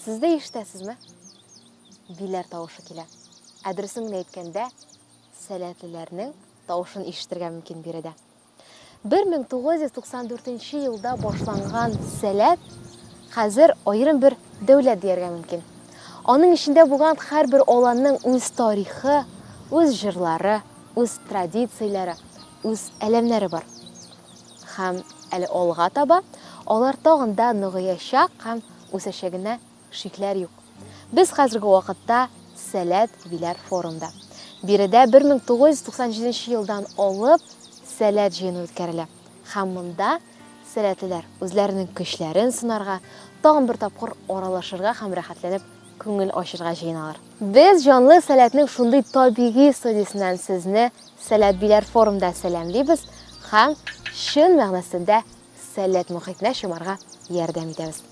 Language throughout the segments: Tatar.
Сез дә ишетәсезме? Биләр тавышы килә. Ә дөресен генә әйткәндә, сәләтлеләрнең тавышын ишетергә мөмкин биредә. 1994 елда башланган сәләт хәзер аерым бер дәүләт дияргә мөмкин. Аның эчендә булган һәрбер аланның үз тарихы, үз җырлары, үз традицияләре, үз әләмнәре бар. Һәм әле алга таба алар тагын да ныгыячак һәм үсәчәгенә шикләр юк. Без хәзерге вакытта Сәләт Виләр форумда. Биредә 1997 елдан алып Сәләт җыены үткәрелә. Һәм монда сәләтлеләр үзләренең көчләрен сынарга, тагын бер тапкыр аралашырга һәм рәхәтләнеп күңел ачырга җыеналар. Без җанлы сәләтнең шундый табигый студиясеннән сезне Сәләт Биләр форумда сәламлибез һәм чын мәгънәсендә сәләт мохитенә чумарга ярдәм итәбез.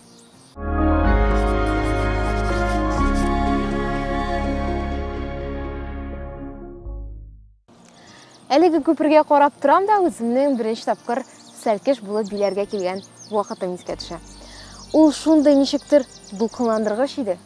Әлеге күпергә карап торам да үземнең беренче тапкыр сәлкеш булып биләргә килгән вакытым искә төшә. Ул шундый ничектер дулкынландыргыч иде.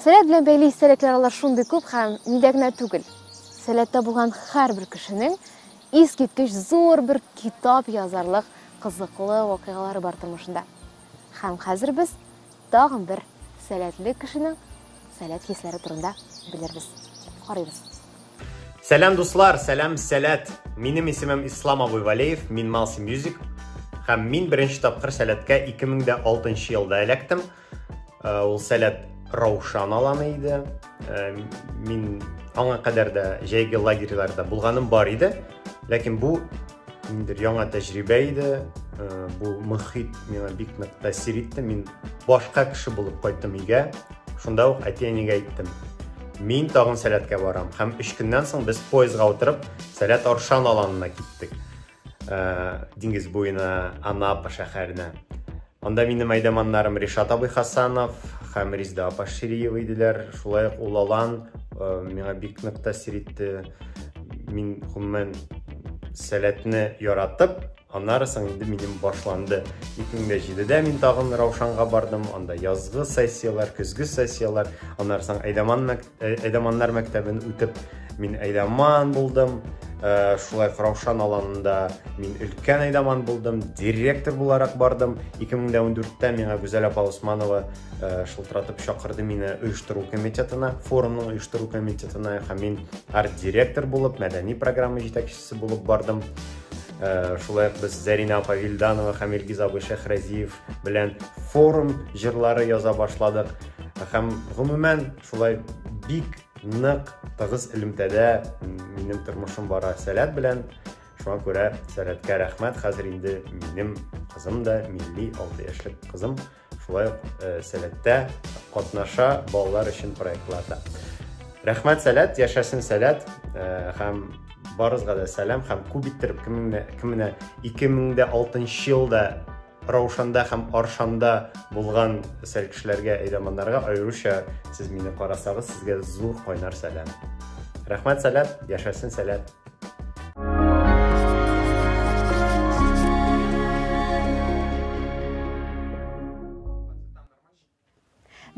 Сәләт белән бәйле истәлекләр алар шундый күп һәм миндә генә түгел. Сәләттә булган һәрбер кешенең искиткеч зур бер китап язарлык кызыклы вакыйгалары бар тормышында. Һәм хәзер без тагын бер сәләтле кешенең сәләт хисләре турында белербез. Карыйбыз. Сәлам дуслар, сәлам сәләт. Минем исемем Ислам абый Валеев, мин Малси Music. Һәм мин беренче тапкыр сәләткә 2006 елда эләктем. Э, ул сәләт раушан аланы иде э, мин аңа кадәр дә җәйге лагерьларда булганым бар иде ләкин бу ниндер яңа тәҗрибә иде э, бу мөхит миңа бик нык тәэсир итте мин башка кеше булып кайттым өйгә шунда ук әти әнигә әйттем мин тагын сәләткә барам һәм өч көннән соң без поездга утырып сәләт аршан аланына киттек диңгез буена анапа шәһәренә анда минем әйдәманнарым ришат абый хасанов һәм ризда апа шириева иделәр шулай ук ул алан миңа бик нык тәэсир итте мин гомумән сәләтне яратып аннары соң инде минем башланды ике мең дә җидедә мин тагын раушанга бардым анда язгы сессияләр көзге сессияләр аннары соң әйдәман Ә- Әйдаманнар мәктәбен үтеп, мин әйдаман булдым. Ә, Шулай ук Раушан аланында мин өлкән әйдаман булдым, директор буларак бардым. 2014-тә миңа Гүзәл апа Усманова ә, шылтыратып чакырды мине оештыру комитетына, форумның оештыру комитетына һәм мин арт-директор булып, мәдәни программа җитәкчесе җитәкчесе булып бардым. Э, шулай ук без Зәринә апа Вилданова һәм Илгиз абый Шәхразиев белән форум җырлары яза башладык. Һәм гомумән шулай бик нык тыгыз элемтәдә минем тормышым бара сәләт белән. Шуңа күрә сәләткә рәхмәт. Хәзер инде минем кызым да милли 6 яшьлек кызым Шулай ук э, сәләттә катнаша балалар өчен проектларда. Рәхмәт сәләт, яшәсен сәләт э, һәм барызга да сәлам һәм күп иттереп кемне 2006 елда Раушанда һәм Аршанда булган сәл кешеләргә әйдәманнарга аеруча сез мине карасагыз сезгә зур кайнар сәлам. Рәхмәт сәләт, яшәсен сәләт.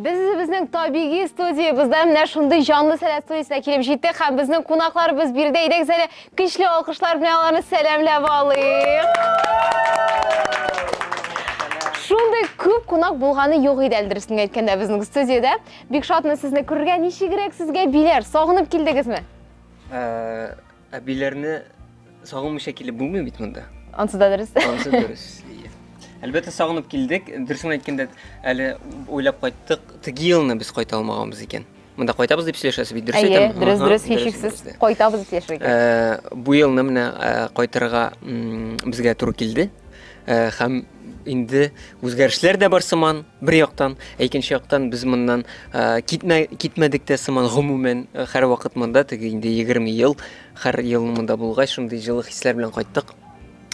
Без үзебезнең табигый студиябездә менә шундый җанлы сәләт студиясенә килеп җиттек һәм безнең кунакларыбыз биредә идек зәле көчле алкышлар белән аларны сәламләп алыйк. Шундый күп кунак булганы юк иде әле дөресен әйткәндә безнең студиядә. Бик шатмын сезне күрергә. Ничегрәк сезгә биләр? Сагынып килдегезме? Әбиләрне сагынмыйча килеп булмый бит монда. Ансы да дөрес. Ансы дөрес. Әлбәттә сагынып килдек. Дөресен әйткәндә, әле уйлап кайттык, теге елны без кайта алмаганбыз икән. Монда кайтабыз дип сөйләшәсе бит, дөрес әйтәм? Әйе, дөрес, дөрес, һичшиксез. Кайтабыз дип сөйләшергә. Бу елны менә кайтырга безгә туры килде. Э, һәм инде үзгәрешләр дә бар сыман бер яктан ә икенче яктан без моннан э, китмә, китмәдек тә сыман гомумән э, һәр вакыт монда теге инде егерме ел һәр ел монда булгач шундый җылы хисләр белән кайттык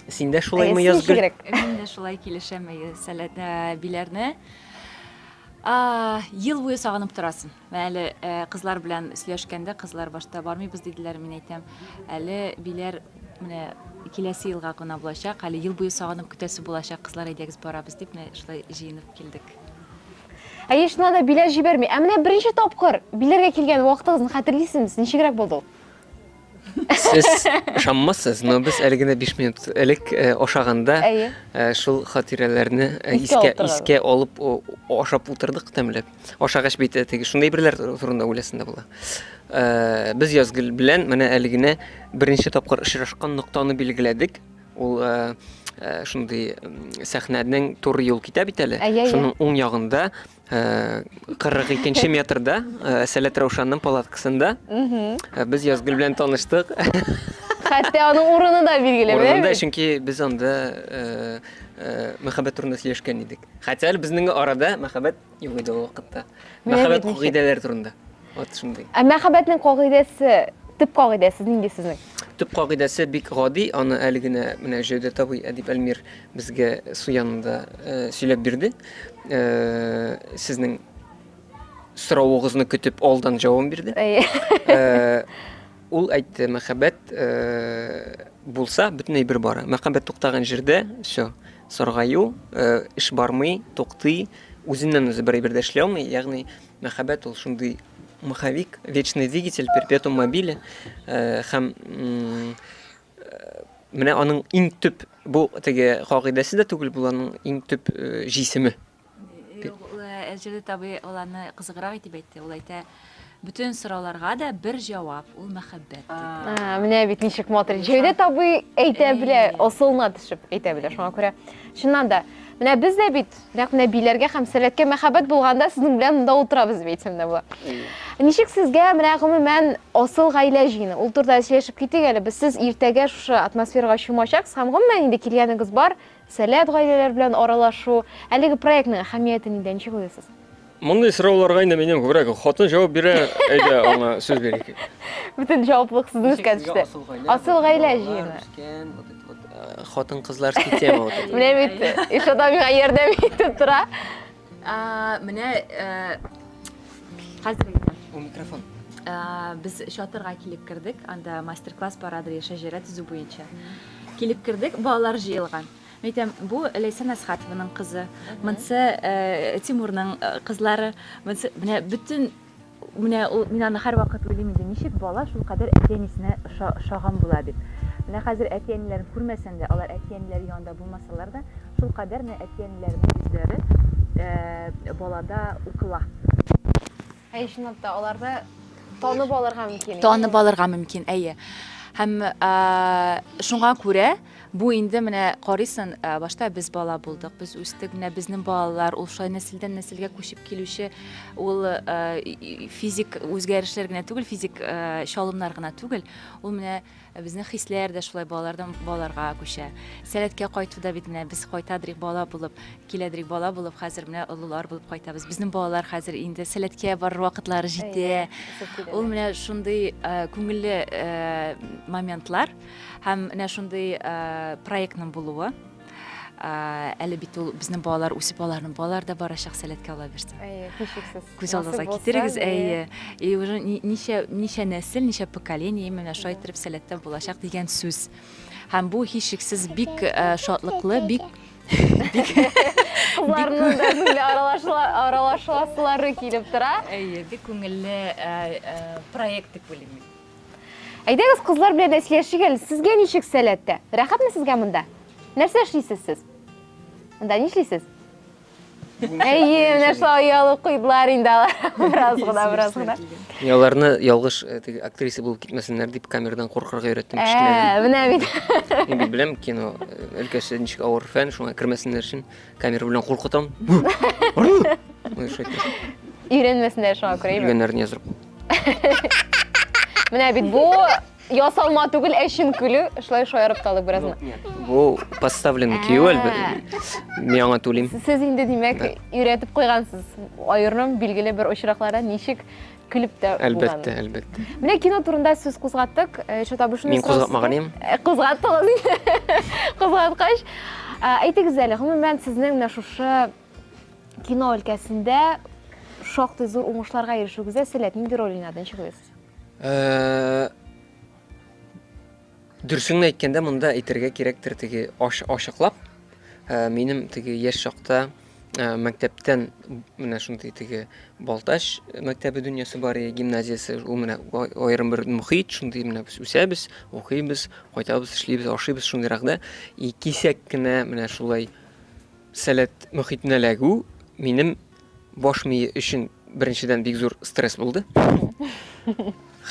син дә шулаймы язгөл мин дә шулай килешәм биләрне ел буе сагынып торасың Менә әле кызлар белән сөйләшкәндә, кызлар башта бармыйбыз диделәр, мин әйтәм, әле биләр менә киләсе елга гына булачак, әле ел буе сагынып көтәсе булачак кызлар, әйдәгез барабыз дип, менә шулай җыенып килдек. Әйе, чыннан да, биләр җибәрми. Ә менә беренче тапкыр биләргә килгән вакытыгызны хәтерлисезме, ничегрәк булды ул? Сез ышанмассыз, но без әле генә 5 минут элек э, ашаганда Әйе. э, шул хатирәләрне э, Искә искә утырдык. искә алып о- ашап утырдык тәмләп. Ашагач бит э, теге шундый берләр турында уйласында була. Э, Без Язгөл белән менә әле генә беренче тапкыр очрашкан ноктаны билгеләдек. Ул э, э, шундый м, сәхнәнең туры юл китә бит әле. Әйе, әйе. Шуның уң ягында Э, кырык икенче метрда э, сәләт раушанның палаткасында э, без язгөл белән таныштык хәтта аның урыны да билгеле урынында чөнки без анда мәхәббәт турында сөйләшкән идек хәтта әле безнең арада мәхәббәт юк иде ул вакытта мәхәббәт кагыйдәләре турында Вот шундый. Ә мәхәббәтнең кагыйдәсе, төп кагыйдәсе нинди сезнең? Төп кагыйдәсе бик гади, аны әле генә менә Җәүдәт абый Әдип Әлмир безгә су янында э, сөйләп бирде. Э, сезнең соравыгызны көтеп алдан җавап бирде. Э, ул әйтте, мәхәббәт э, булса, бөтенләй бер бара. Мәхәббәт туктаган җирдә, все, саргаю, э, эш бармый, туктый, үзеннән үзе бер әйбер дә эшли алмый, ягъни Мәхәббәт ул шундый маховик, вечный двигатель, перпетум мобиле э, һәм э, менә аның иң төп бу теге кагыйдәсе дә түгел, бу аның иң төп э, җисеме. Әҗәле табый ул аны кызыграк итеп әйтте. Ул әйтә, бөтен сорауларга да бер җавап, ул мәхәббәт диде. Менә бит ничек матур. Җәүдәт табый әйтә белә, асылына төшеп әйтә белә. Шуңа күрә чыннан да, менә без дә бит Нәкъ нәбиләргә һәм сәләткә мәхәббәт булганда сезнең белән монда утырабыз дип әйтсәм дә була. Ничек сезгә менә гомумән асыл гаилә җыены? Ул турыда сөйләшеп китик әле. Без сез иртәгә шушы атмосферага чумачаксыз һәм гомумән инде килгәнегез бар, сәләт гаиләләр белән аралашу. Әлеге проектның әһәмияте нидә, ничек уйлыйсыз? Мондый сорауларга инде минем күбрәк хатын җавап бирә, әйдә аңа сүз бирик. Бөтен җаваплылык сезнең үскән төште. Асыл гаилә җыены. Э, хатын кызлар система вот это. Менә бит иш адамга ярдәм итеп тора. А, менә э, хәзер әйтәм. У микрофон. Э, без чатырга килеп кердек. Анда мастер-класс парады шәҗәрә төзү буенча. Килеп кердек, балалар җыелган. Әйтәм, бу Ләйсән Әсхатованың кызы, монсы Тимурның кызлары, монсы менә бөтен менә ул мин аны һәрвакыт уйлыйм инде, ничек бала шул кадәр әти-әнисенә ошаган була дип. Менә хәзер әти-әниләрен күрмәсәң дә, алар әти-әниләре янында булмасалар да, шул кадәр менә әти-әниләренең үзләре балада укыла. Әй, чынлап та, аларда танып алырга мөмкин. Танып алырга мөмкин, әйе. Һәм шуңа күрә бу инде менә карыйсың, башта без бала булдык, без үстек, менә безнең балалар, ул шулай нәселдән нәселгә күчеп килүче ул физик үзгәрешләр генә түгел, физик чалымнар гына түгел, ул менә Ә безнең хисләр дә шулай балалардан балаларга күчә. Сәләткә кайту да бит менә без кайтадырик бала булып, киләдерик бала булып, хәзер менә олылар булып кайтабыз. Безнең балалар хәзер инде сәләткә барыр вакытлары җитә. Ул менә шундый күңелле моментлар һәм менә шундый проектның булуы. әле бит ул безнең балалар үсеп аларның балалары да барачак сәләткә ала бирсен әйе һичшиксез күз алдыгызга китерегез әйе и уже ничә ничә нәсел ничә поколение менә шулай итеп сәләттә булачак дигән сүз һәм бу һичшиксез бик э, шатлыклы бик кызларның да күңеле аралашасылары килеп тора әйе бик күңелле э, э, проект дип уйлыйм Әйдәгез, кызлар белән дә сөйләшик әле. Сезгә ничек сәләттә? Рәхәтме сезгә монда? Нәрсә эшлисез сез? Монда ни эшлисез? Әйе, менә шулай оялы куйдылар инде алар. Бераз гына, бераз гына. Мин аларны ялгыш э, теге актриса булып китмәсеннәр дип камерадан куркырга өйрәттем Ә, кечкенәдән. менә бит. Мин бит беләм кино э, өлкәсе ничек авыр фән, шуңа кермәсеннәр өчен камера белән куркытам. Ой, шайтан. Өйрәнмәсеннәр шуңа күрә. әйбәт. Үлгәннәрне яздырып. Менә бит бу ясалма түгел, ә чын көлү. Шулай шаярып та алдык беразны. Бу поставленный кию әлбәттә. Мин аңа түлим. Сез инде димәк өйрәтеп куйгансыз. Айырным билгеле бер очракларда ничек көлеп тә Әлбәттә, әлбәттә. Менә кино турында сүз кузгаттык. Э, Чатабышны Мин кузгатмаган идем. Э, Кузгаттыгыз инде. Кузгаткач, э, әйтегез әле, гомумән сезнең менә шушы Кино өлкәсендә шактый зур уңышларга ирешүегезгә сәләт нинди роль уйнады? Ничек уйлыйсыз? Э, Дөрсеңне әйткәндә, монда әйтергә кирәктер теге ачыклап. Э, минем теге яшь чакта э, мәктәптән менә шундый теге Балтач мәктәбе дөньясы бар иде, гимназиясе. Ул менә аерым бер мөхит, шундый менә без үсәбез, укыйбыз, кайтабыз, эшлибез, ашыйбыз шундыйрак да. И кисәк кенә менә шулай Сәләт мохитенә эләгү минем баш мие өчен беренчедән бик зур стресс булды.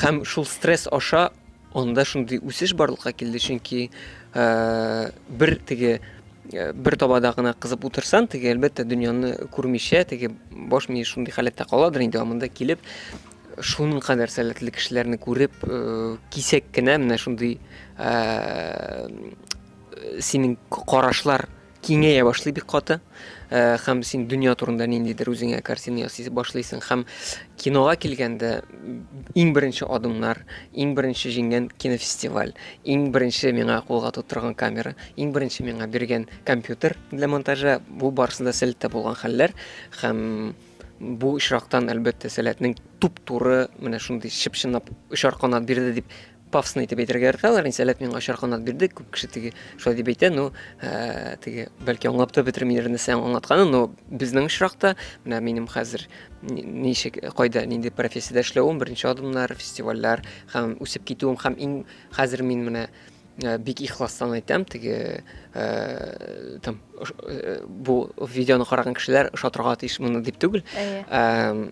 Һәм шул стресс аша анда шундый үсеш барлыкка килде, чөнки бер теге бер табада гына кызып утырсан, теге әлбәттә дөньяны күрмичә, теге баш мие шундый халәттә каладыр инде, амында килеп шуның кадәр сәләтле кешеләрне күреп, э, кисәк кенә менә шундый э, синең карашлар киңәя башлый бик каты э, һәм син дөнья турында ниндидер үзеңә картина ясый башлыйсың һәм кинога килгәндә иң беренче адымнар иң беренче җиңгән кинофестиваль иң беренче миңа кулга тоттырган камера иң беренче миңа биргән компьютер для монтажа бу барысы да сәләттә булган хәлләр һәм бу очрактан әлбәттә сәләтнең туп туры менә шундый чып чынлап очар канат бирде дип Пафосно итеп әйтергә яраталар, мин сәләт миңа очар канат бирде, күп кеше теге шулай дип әйтә, ну, ә, теге бәлки аңлап та бетермидер нәрсә аңлатканы, но безнең очракта, менә минем хәзер ничек, кайда, нинди профессиядә эшләвем, беренче адымнар, фестивальләр һәм үсеп китүем һәм иң хәзер мин менә э, бик ихластан әйтәм, теге э, там э, бу видеоны караган кешеләр ошатырга тиеш моны дип түгел. Ә,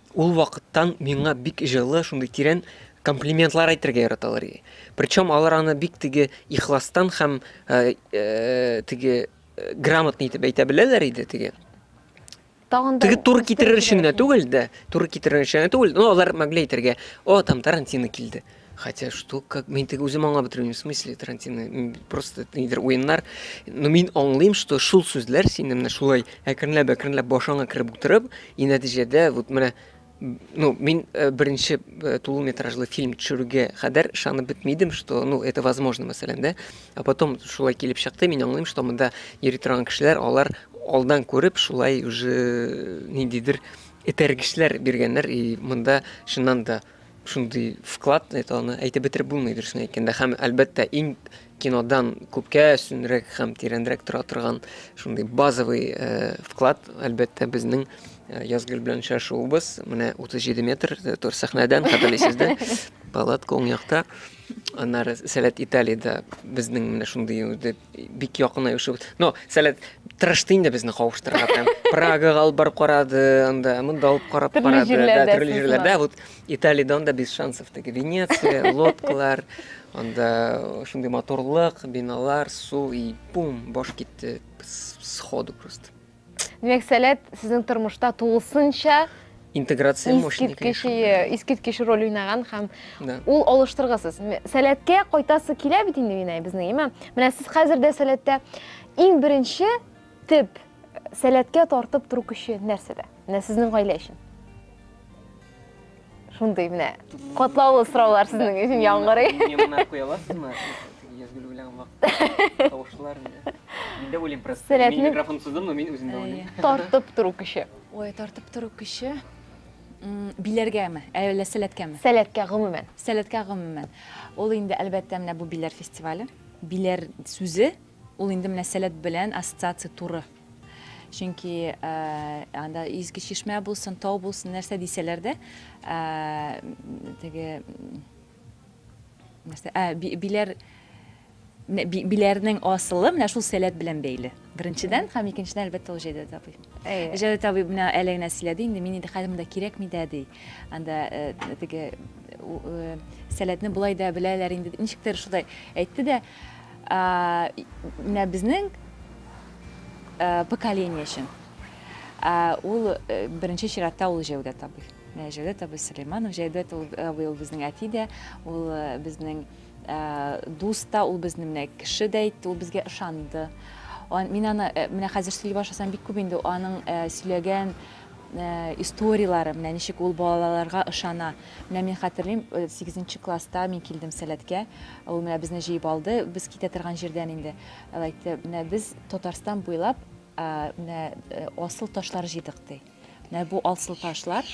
Ул вакыттан миңа бик җылы, шундый тирән комплиментлар әйтергә яраталар иде. Причем алар аны бик теге ихластан һәм теге грамотный итеп әйтә беләләр иде теге. Тагын да Теге туры китерер өчен генә түгел дә, туры китерер өчен генә түгел, но алар могли әйтергә, о, там Тарантино килде. Хотя что, как, мин теге үзем аңлап бетермим, в смысле Тарантино, просто нидер уеннар. Но мин аңлыйм, что шул сүзләр сине менә шулай әкренләп, әкренләп башыңа кереп утырып, и нәтиҗәдә вот менә ну, мин э, беренче э, тулы метражлы фильм төшерүгә кадәр ышанып бетмидем, что, ну, это возможно, мәсәлән, да? А потом шулай килеп чыкты, мин аңлыйм, что монда йөри торган кешеләр, алар алдан күреп, шулай уже э, ниндидер этәргечләр биргәннәр, и монда чыннан да Шундый вклад ит аны әйтеп бетереп булмый дөресен әйткәндә һәм әлбәттә иң кинодан күпкә өстенрәк һәм тирәнрәк тора торган шундый базовый э, вклад әлбәттә безнең э, Язгөл белән очрашуыбыз менә 37 метр э, тор сәхнәдән хәтерлисездер палатка уң якта Аннары Сәләт Италиядә безнең менә шундый үзе бик якын оешып. Но Сәләт тырышты инде безне кавыштырырга там. Прагага алып барып карады, анда монда алып карап Төрле карады. җирләрдә Да, төрле сез җирләрдә. бар. Вот Италиядә анда без шансов теге Венеция, лодкалар, анда шундый моторлык, биналар, су и пум, баш китте с- сходу просто. Димәк, сәләт сезнең тормышта тулысынча интеграция искиткеч искиткеч роль уйнаган һәм ул алыштыргысыз сәләткә кайтасы килә бит инде минай безнең имә менә сез хәзер дә сәләттә иң беренче төп сәләткә тартып тору көче нәрсәдә менә сезнең гаилә өчен Шундый менә катлаулы сораулар сезнең өчен яңгырый. Мемнар куя аласызмы? Язгөл белән вакыт тавышлар инде. Мин дә уйлыйм просто. Мин микрофон сыздыммы, мин үзем дә уйлыйм. Тартып тору көче. Ой, тартып тору көче. Биләргәме, әллә сәләткәме? Сәләткә гомумән. Сәләткә гомумән. Ул инде әлбәттә менә бу биләр фестивале. Биләр сүзе ул инде менә сәләт белән ассоциация туры. Чөнки анда изге чишмә булсын, тау булсын, нәрсә дисәләр дә, теге нәрсә, ә, биләр биләрнең асылы менә шул сәләт белән бәйле. Беренчедән һәм икенчедән әлбәттә ул Җәүдәт абый. Җәүдәт абый менә әле генә сөйләде инде, мин инде хәзер монда кирәкми дә ди. Анда теге сәләтне болай да беләләр инде. Ничектер шулай әйтте дә, Ә менә безнең поколение өчен ул беренче чиратта ул Җәүдәт абый. Менә Җәүдәт абый Сөләйманов, Җәүдәт абый ул безнең әти дә, ул безнең дус та, ул безнең менә кеше дә итте, ул безгә ышанды. Мин аны менә хәзер сөйли башласам бик күп инде аның сөйләгән историяләре, менә ничек ул балаларга ышана. Менә мин хәтерлим, сигезенче класста мин килдем Сәләткә. Ул менә безне җыеп алды, без китә торган җирдән инде. Ул әйтте, менә без Татарстан буйлап менә асыл ташлар җыйдык, ди. Менә бу асыл ташлар.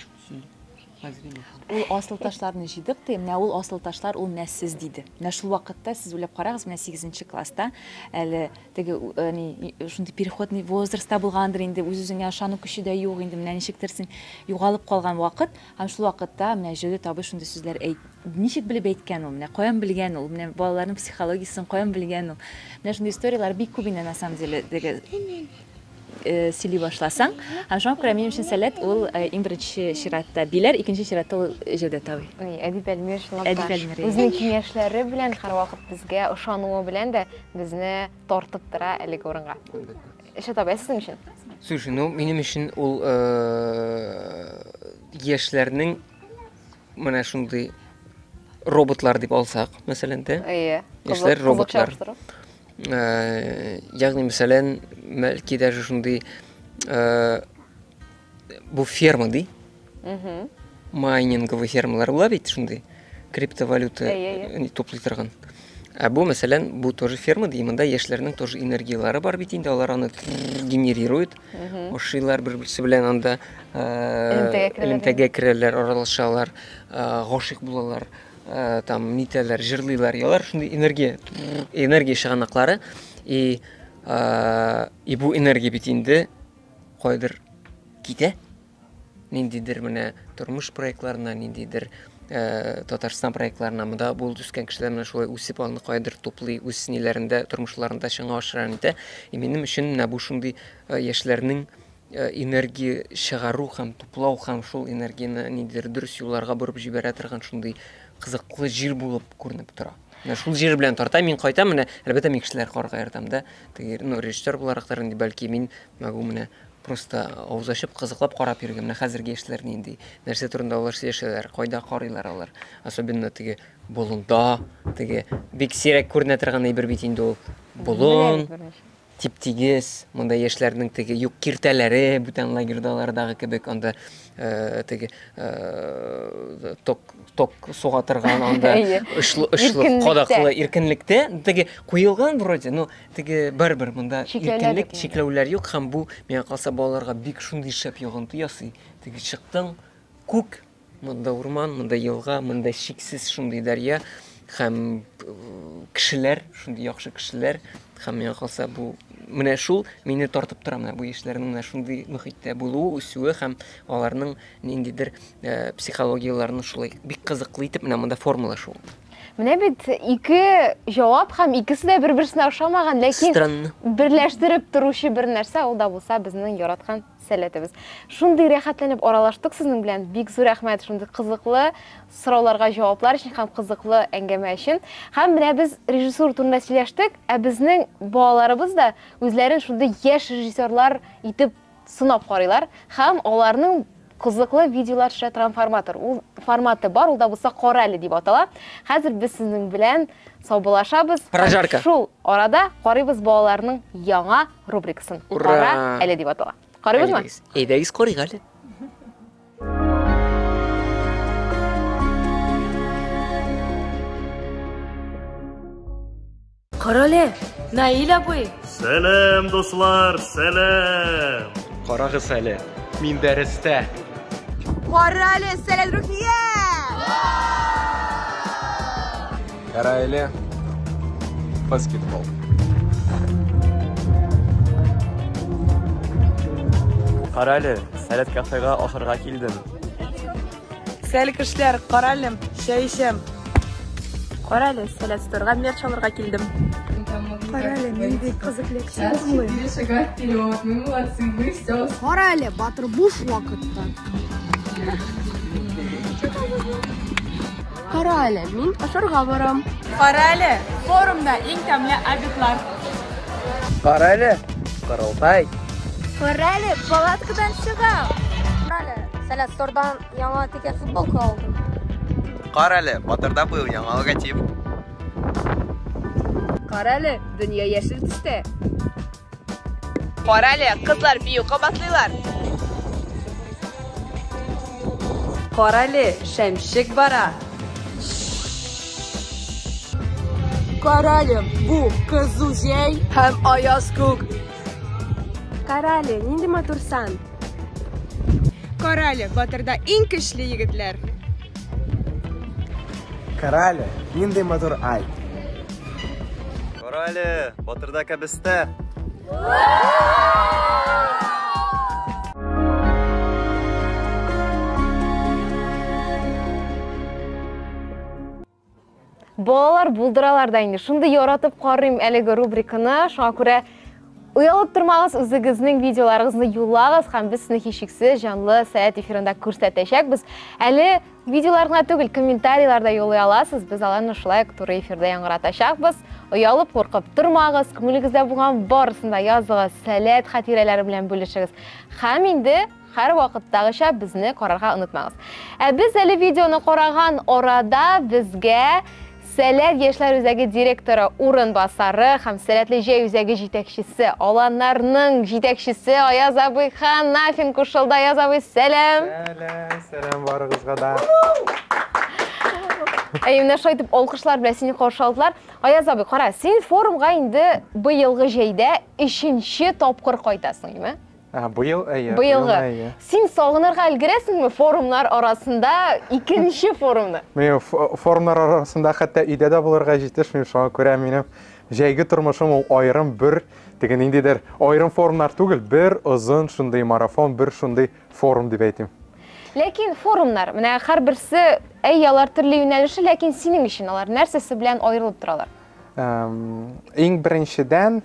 Ул асыл ташларны җыйдык, ди. Менә ул асыл ташлар, ул менә сез, диде. Менә шул вакытта сез уйлап карагыз, менә сигезенче класста әле теге ни шундый переходный возрастта булгандыр инде, үз-үзеңә ышану көче дә юк инде, менә ничектер син югалып калган вакыт, Һәм шул вакытта менә Җәүдәт абый шундый сүзләр әйт, ничек белеп әйткән ул, менә каян белгән ул, менә балаларның психологиясен каян белгән ул. Менә шундый историяләр бик күп инде на самом деле теге э, сөйли башласаң. Һәм шуңа күрә минем өчен сәләт ул э, иң беренче чиратта Биләр, икенче чиратта ул Җәүдәт абый. Ой, Әдип Әлмир чынлап та Әдип Әлмир, иә. үзенең киңәшләре белән һәрвакыт безгә ышануы белән дә безне тартып тора әлеге урынга. Эше табай сезнең өчен? Слушай, ну минем өчен ул яшьләрнең менә шундый роботлар дип алсак, мәсәлән, дә. Әйе. Яшьләр роботлар. Ягъни, мәсәлән, мәлки даже шундый Бу ферма ди. Угу. Майнинговый фермалар була бит шундый. Криптовалюта туплый торган. Ә бу, мәсәлән, бу тоже ферма ди, монда яшьләрнең тоже энергияләре бар бит инде, алар аны генерируют, ашыйлар бер-берсе белән анда элемтәгә керәләр, аралашалар, гашыйк булалар, там нитәләр, җырлыйлар, ялар шундый энергия, энергия чыганаклары и и бу энергия бит инде кайдыр китә, ниндидер менә тормыш проектларына, ниндидер э, Татарстан проектларына монда булып үскән кешеләр менә шулай үсеп аны кайдыр туплый, үз ниләрендә, тормышларында чыңа ашыран итә. И минем өчен менә бу шундый э, яшьләрнең э, энергия чыгару һәм туплау һәм шул энергияне ниндидер дөрес юлларга борып җибәрә торган шундый кызыклы җир булып күренеп тора. Менә шул җир белән тарта, мин кайтам, менә әлбәттә мин кешеләр карга ярдәм да. Теге, ну, режиссер буларак та инде бәлки мин могу менә просто авыз ачып кызыклап карап йөрергә. Менә хәзерге яшьләр нинди, нәрсә турында алар сөйләшәләр, кайда карыйлар алар. Особенно теге болында, теге бик сирәк күренә торган әйбер бит инде ул. Болын. Тип-тигез, монда яшьләрнең теге юк киртәләре, бүтән лагерьдалардагы кебек, анда теге ток ток суга торган анда очлы очлы кадаклы иркенлектә теге куелган вроде но теге барыбер монда иркенлек чикләүләр юк һәм бу миңа калса балаларга бик шундый шәп йогынты ясый теге чыктың күк Монда урман, монда елга, монда чиксез шундый дәрья һәм кешеләр, шундый яхшы кешеләр һәм миңа калса бу менә шул мине тартып тора менә бу яшьләрнең менә шундый мөхиттә булуы, үсүе һәм аларның ниндидер э, психологияләрен шулай бик кызыклы итеп менә монда формула шул. Менә бит ике җавап һәм икесе дә бер-берсенә охшамаган, ләкин Странно. берләштереп торучы бер нәрсә ул да булса безнең яраткан Сәләтебез. Шундый рәхәтләнеп аралаштык сезнең белән. Бик зур рәхмәт шундый кызыклы сорауларга җаваплар өчен һәм кызыклы әңгәмә өчен. Һәм менә без режиссура турында сөйләштек, ә безнең балаларыбыз да үзләрен шундый яшь режиссерлар итеп сынап карыйлар һәм аларның кызыклы видеолар төшә торган форматор. Ул форматы бар, ул да булса Кара әле дип атала. Хәзер без сезнең белән саубуллашабыз. Прожарка. Шул арада карыйбыз балаларның яңа рубрикасын. Ура! Кара әле дип атала. Карыйбызмы? Әйдәгез карыйк әле. Карале, Наил абый. Сәлам, дуслар, сәлам. Карагыз әле, мин дәрестә. Карале, сәлам, Рухия. Гәрәйле баскетбол. Карале, сәләт кафега ашарга килдем. Сәле кешеләр, каралем, чәй эчәм. Карале, сәләт сторга мер чалырга килдем. Карале, нинди кызык лекция булмый. Сейчас шагать вперед, мы молодцы, мы все. Карале, батыр буш вакытта. Кара әле, мин ашарга барам. Кара әле, форумда иң тәмле обедлар. Кара әле, корылтай. Кара әле, палаткадан чыгам. Кара әле, Сәләт Стордан яңа текә футболка алдым. Кара әле, Батырда быел яңа логотип. Кара әле, дөнья яшел төстә. Кара әле, кызлар бию кабатлыйлар. Кара әле, шәмшек бара. Кара әле, бу кызу җәй һәм аяз күк. Кара әле, нинди матурсан. Карале, батырда иң көчле егетләр. Карале, нинди матур ай. Карале, батырда кәбестә. Балалар булдыралар да инде. Шундый яратып карыйм әлеге рубриканы. Шуңа күрә Уялып тормагыз, үзегезнең видеоларыгызны юллагыз һәм без сезне һичшиксез җанлы сәяхәт эфирында күрсәтәчәкбез. Әле видеоларга түгел, комментарийларда юллый аласыз. Без аларны шулай ук туры эфирда яңгыратачакбыз. Уялып, куркып тормагыз, күңелегездә булган барысын да языгыз, сәләт хатирәләре белән бүлешегез. Һәм инде Һәрвакыттагыча безне карарга онытмагыз. Ә без әле видеоны караган арада безгә Сәләт яшьләр үзәге директоры урынбасары һәм Сәләтле җәй үзәге җитәкчесе, аланнарның җитәкчесе Аяз абый Ханафин кушылды. Аяз абый, сәлам! Сәлам, сәлам барыгызга да. Әйе, менә шулай итеп алкышлар белән сине каршы алдылар. Аяз абый, кара, син форумга инде быелгы җәйдә өченче тапкыр кайтасың, юме? А, быел, әйе. Быелгы. Әйе. Син сагынырга өлгерәсеңме форумнар арасында икенче форумны? Мин форумнар арасында хәтта өйдә дә булырга җитешмим, шуңа күрә минем җәйге тормышым ул аерым бер теге ниндидер аерым форумнар түгел, бер озын шундый марафон, бер шундый форум дип әйтим. Ләкин форумнар, менә һәрберсе әй алар төрле юнәлеше, ләкин синең өчен алар нәрсәсе белән аерылып торалар? Иң беренчедән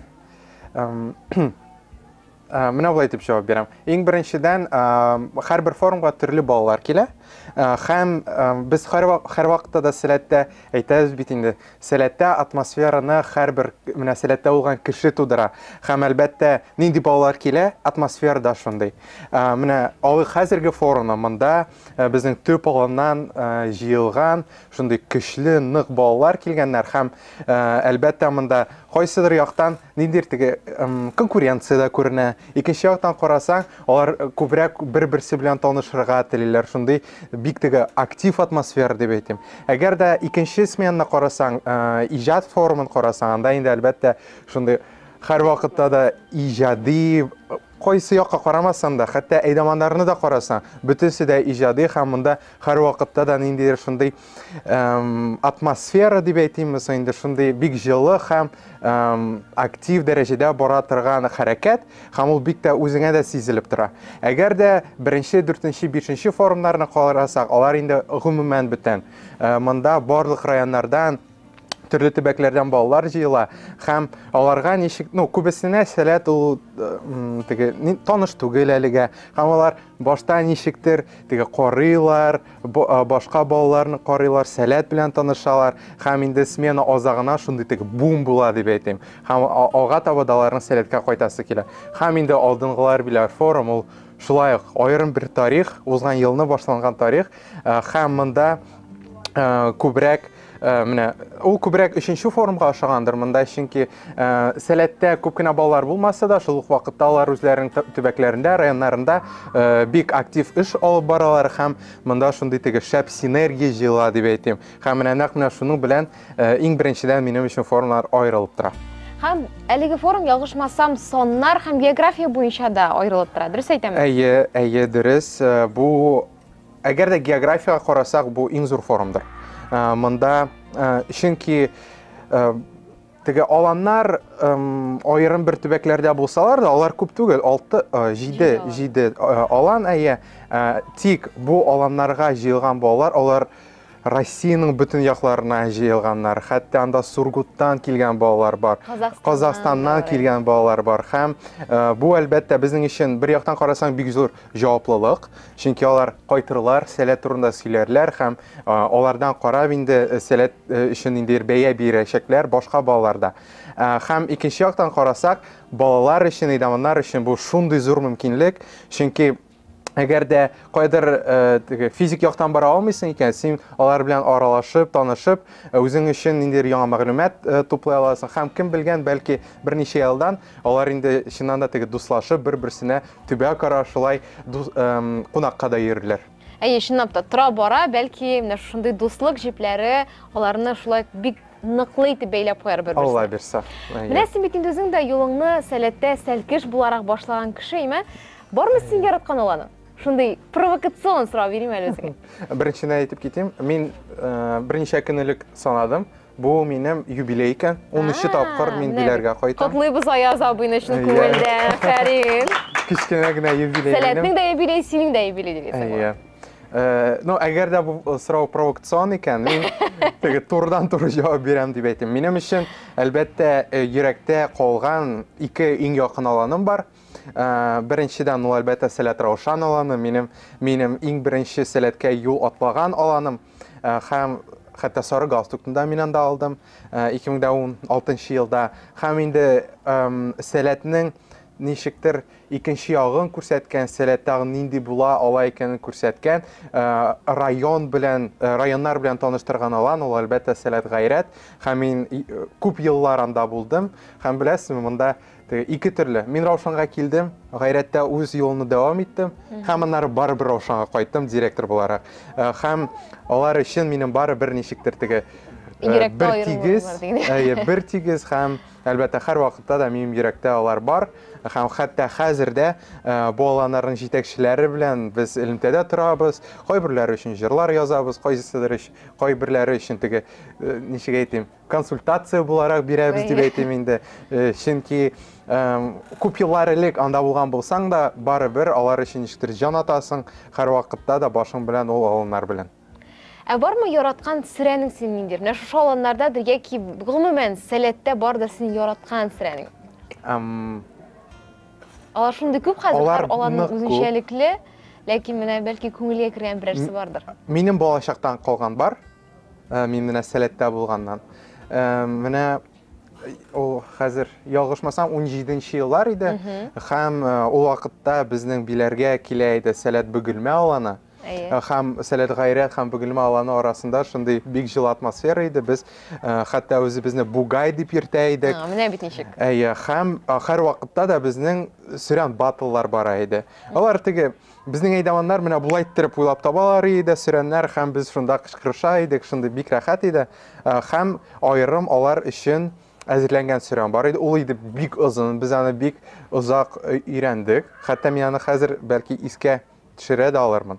Э, менә болай дип җавап бирәм иң беренчедән э, һәрбер форумга төрле балалар килә э, һәм без һәрвакытта да сәләттә әйтәбез бит инде сәләттә атмосфераны һәрбер менә сәләттә булган кеше тудыра һәм әлбәттә нинди балалар килә атмосфера да шундый менә алый хәзерге форумны монда безнең төп аланнан җыелган шундый көчле нык балалар килгәннәр һәм әлбәттә монда кайсыдыр яктан Ниндидер теге конкуренция дә күренә. Икенче яктан карасаң, алар күбрәк бер-берсе белән танышырга телиләр. Шундый бик теге актив атмосфера дип әйтим. Әгәр дә икенче сменаны карасаң, иҗат форумын карасаң, анда инде әлбәттә шундый һәрвакытта да иҗади Кайсы якка карамасаң да, хәтта әйдаманнарны да карасаң, бөтенесе дә иҗади һәм монда һәрвакытта да ниндидер шундый атмосфера дип әйтимме соң инде, шундый бик җылы һәм актив дәрәҗәдә бара торган хәрәкәт һәм ул бик тә үзеңә дә сизелеп тора. Әгәр дә беренче, дүртенче, бишенче форумнарны карасак, алар инде гомумән бүтән. Монда барлык районнардан төрле төбәкләрдән балалар җыела һәм аларга ничек ну күбесенә сәләт ул теге таныш түгел әлегә һәм алар башта ничектер теге карыйлар башка балаларны карыйлар сәләт белән танышалар һәм инде смена азагына шундый теге бум була дип әйтим һәм алга таба да аларның сәләткә кайтасы килә һәм инде алдынгылар белән форум ул шулай ук аерым бер тарих узган елны башланган тарих һәм монда күбрәк Э, менә ул күбрәк өченче форумга ошагандыр монда чөнки э, сәләттә күп кенә балалар булмаса да шул ук вакытта алар үзләренең төбәкләрендә районнарында э, бик актив эш алып баралар һәм монда шундый теге шәп синергия җыела дип әйтим һәм менә нәкъ менә шуның белән иң беренчедән минем өчен форумнар аерылып тора һәм әлеге форум ялгышмасам саннар һәм география буенча да аерылып тора дөрес әйтәме әйе әйе дөрес бу Әгәр дә географиягә карасак, бу иң зур форумдыр. Э, монда э, чөнки теге аланнар аерым бер төбәкләрдә булсалар да, алар күп түгел, 6 7 7 алан әйе. Тик бу аланнарга җыелган балалар, алар Россиянең бөтен якларына җыелганнар. Хәтта анда Сургуттан килгән балалар бар, Казахстаннан килгән балалар бар. Һәм э, бу әлбәттә безнең өчен бер яктан карасаң бик зур җаваплылык, чөнки алар кайтырлар, сәләт турында сөйләрләр һәм э, алардан карап инде э, сәләт өчен инде бәя бирәчәкләр башка балаларда. Һәм икенче яктан карасак, балалар өчен, әйдәманнар өчен бу шундый зур мөмкинлек, чөнки Әгәр дә кайдыр э, физик яктан бара алмыйсың икән, син алар белән аралашып, танышып, э, үзең өчен ниндидер яңа мәгълүмат э, туплый аласың. Һәм кем белгән, бәлки берничә елдан алар инде чыннан да теге дуслашып, бер-берсенә төбәк ара шулай кунакка да йөрерләр. Әйе, чынлап та тора бара, бәлки менә шундый дуслык җепләре аларны шулай бик ныклы итеп бәйләп куяр бер Алла бирса. Менә син бит инде үзең дә юлыңны сәләттә сәлкеш буларак башлаган кеше, име? Бармы син яраткан ул аны? Шундый провокацион сорау бирим әле үзеңә. Беренчедән әйтеп китим, мин э, берничә көн элек санадым. Бу минем юбилей икән. 13 тапкыр мин биләргә кайтам. Котлыйбыз Аяз абыйны чын э, күңелдән, Фәрин. Кечкенә генә юбилей. Сәләтнең дә юбилей, синең дә юбилей дигән. Иә. Э, ну, әгәр дә бу э, сорау провокацион икән, мин теге турыдан туры җавап бирәм дип әйтәм. Минем өчен әлбәттә э, йөрәктә калган ике иң якын аланым бар. Э, беренчедән ул әлбәттә сәләт раушан аланы минем минем иң беренче сәләткә юл атлаган аланым э, һәм хәтта сары галстукны да мин анда алдым 2016 э, елда һәм инде сәләтнең ничектер икенче ягын күрсәткән сәләт тагы нинди була ала икәнен күрсәткән район белән районнар белән таныштырган алан ул әлбәттә сәләт гайрәт һәм мин күп еллар анда булдым һәм беләсезме монда Теге ике төрле. Мин Раушанга килдем, гайрәттә үз юлымны дәвам иттем һәм аннары барыбер Раушанга кайттым директор буларак. Э, һәм алар өчен минем бары бер ничектер теге э, бер тигез, әйе, бер тигез һәм әлбәттә һәр вакытта да минем йөрәктә алар бар һәм хәтта хәзер дә э, бу аланнарның җитәкчеләре белән без элемтәдә торабыз. Кайберләре өчен җырлар язабыз, кайсылары өчен, кайберләре өчен теге ничек әйтим, консультация буларак бирәбез дип әйтим инде э, чөнки күп еллар элек анда булган булсаң да барыбер алар өчен ничектер җан атасың һәрвакытта да башың белән ул аланнар белән Ә бармы яраткан сірәнең син ниндидер? Менә шушы аланнарда да яки гомумән сәләттә бар да син яраткан сірәнең? Эм... Алар шундый күп хәзер, алар аларның үзенчәлекле, ләкин менә бәлки күңелгә кергән берәрсе бардыр. Минем балачактан калган бар. Ә, мин менә сәләттә булганнан. Ә, менә ул хәзер ялгышмасам 17 нче еллар иде һәм э, ул вакытта безнең биләргә килә иде сәләт бөгелмә аланы Әйе. Э, һәм сәләт гайрәт һәм бөгелмә аланы арасында шундый бик җылы атмосфера иде без э, хәтта үзебезне бугай дип йөртә идек а, менә бит ничек әйе һәм һәр вакытта да безнең сөрән батллар бара иде алар теге Безнең әйдаваннар менә болай иттереп уйлап табалар иде, сөрәннәр һәм без шунда кычкырыша идек, шундый бик рәхәт иде. Э, һәм аерым алар өчен әзерләнгән сөрән бар иде. Ул иде бик озын, без аны бик озак э, өйрәндек. Хәтта мин аны хәзер бәлки искә төшерә дә алырмын.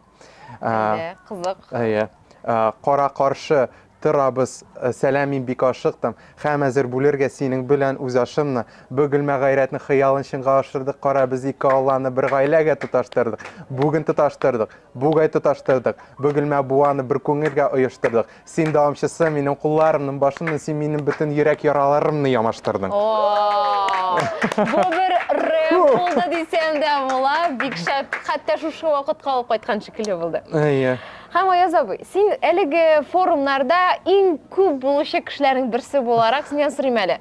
Э, кызык. Әйе. Кара каршы Торабыз. Сәлам, мин бик ашыктым. Хәм әзер бүлергә синең бе-лән үз ашымны. Б гөлмә гайрәтнең хыялын чынга ашырдык, кара, без ике Алланы бер гаиләгә тоташтырдык. Бүген тоташтырдык. Бугай тоташтырдык. Б гөлмә буаны бер күңелгә оештырдык. Син дәвамчысы, минем кулларымның башыннан син минем бөтен йөрәк яраларымны ямаштырдың. О-о-о! Бу бер рэп булды дисәм дә була, бик шәп, хәтта шушы вакытка алып кайткан шикелле булды. Әйе. Һәм, Аяз абый, син әлеге форумнарда иң күп булучы кешеләрнең берсе буларак, синнән сорыйм әле.